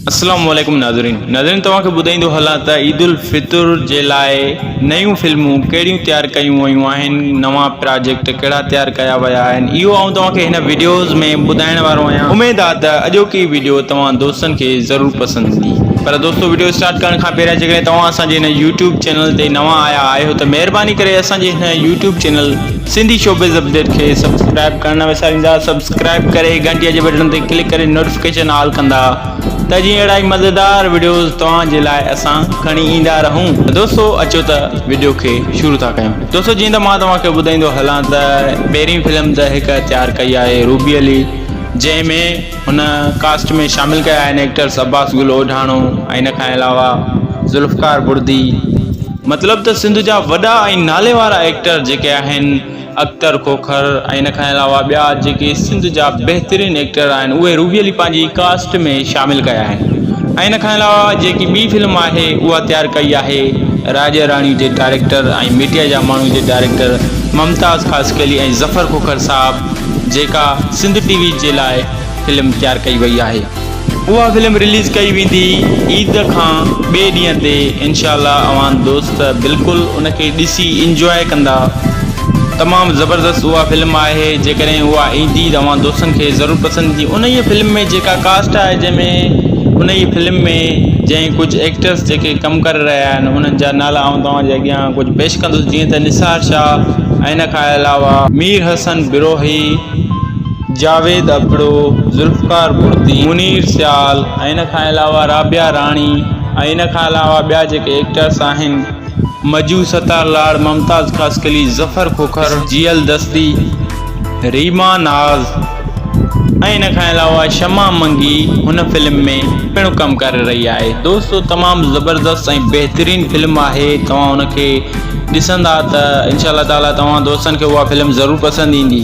اسلام عليڪم ناظرين ناظرين توهان کي ٻڌائيندو هلان ته عيد الفطر جي لاء نيون فلمون ڪهڙيون تيار ڪيون ويون آهن نوان پراجيڪٽ ڪهڙا تيار ڪيا ويا آهن اهو آئون توهان کي هن وڊيوز ۾ ٻڌائڻ وارو آهيان اميد آهي ته اڄوڪي وڊيو توهان دوستن کي ضرور پسند ايندي پر دوستو وڊيو اسٽارٽ ڪرڻ کان پهريان جيڪڏهن توهان اسان جي هن يوٽيوب چينل تي نوان آيا آهيو ته مهرباني ڪري اسان جي هن YouTube channel Sindhi showbiz update کي سبسڪرائب ڪرڻ نه وساريندا سبسڪرائب ڪري گهنٽي جي بٽڻ تي ڪلڪ ڪري نوٽيفڪيشن آل ڪندا ته جيئن اهڙا ئي مزيدار وڊيوز توهان جي لاء اسان کڻي ايندا رهون ته دوستو اچو ته وڊيو کي شروع ٿا ڪيون دوستو جيئن ته مان توهان کي ٻڌائيندو هلان ته پهرين فلم ته هڪ تيار ڪئي آهي روبي علي جنهن ۾ هن ڪاسٽ ۾ شامل ڪيا آهن ايڪٽرز عباس گل اوڍاڻو ۽ ان کان علاوه ذوالفقار بڙدي. مطلب ته سنڌ جا وڏا ۽ نالي وارا ايڪٽر جيڪي آهن اختر کوکر ۽ ان کان علاوه ٻيا جيڪي سنڌ جا بهترين ايڪٽر آهن اهي روبي علي پنهنجي ڪاسٽ ۾ شامل ڪيا آهن ۽ ان کان علاوه جيڪي ٻي فلم آهي اها تيار ڪئي آهي راڄه راڻي جي ڊائريڪٽر ۽ ميڊيا جا ماڻهو جي ڊائريڪٽر ممتاز خاصخيلي ۽ ظفر کوکر صاحب جيڪا سنڌ ٽي وي جي لاء فلم تيار ڪئي وئي آهي اها فلم رليز ڪئي ويندي عيد کان ٻئي ڏينهن تي انشاء الله اوهان دوست بلڪل ان کي ڏسي انجواء ڪندا تمام زبردست اها فلم آهي جيڪڏهن اها ايندي ته اوهان دوستن کي ضرور پسند ايندي انهي فلم ۾ جيڪا ڪاسٽ آهي جنهن ۾ انهي فلم ۾ جنهن ڪجهه ايڪٽرس جيڪي ڪم ڪري رهيا آهن انهن جا نالا آئون توهان جي اڳيان ڪجهه پيش ڪندس جيئن ته نثار شاهه ۽ ان کان علاوه. مير حسن بروهي، جاويد ابڙو، ذوالفقار بڙدي، منير سيال ۽ ان کان علاوه رابعه راڻي ۽ ان کان علاوه ٻيا جيڪي ايڪٽرس آهن. مجو ستار لاڙ، ممتاز خاصخيلي، ظفر کوکر، جيئل دستي، ريما ناز، ان کان علاوه شمع منگي هن فلم ۾ پڻ ڪم ڪري رهي آهي دوستو تمام زبردست ۽ بهترين فلم آهي توهان ان کي ڏسندا ته انشاء الله تعالي توهان دوستن کي اها فلم ضرور پسند ايندي.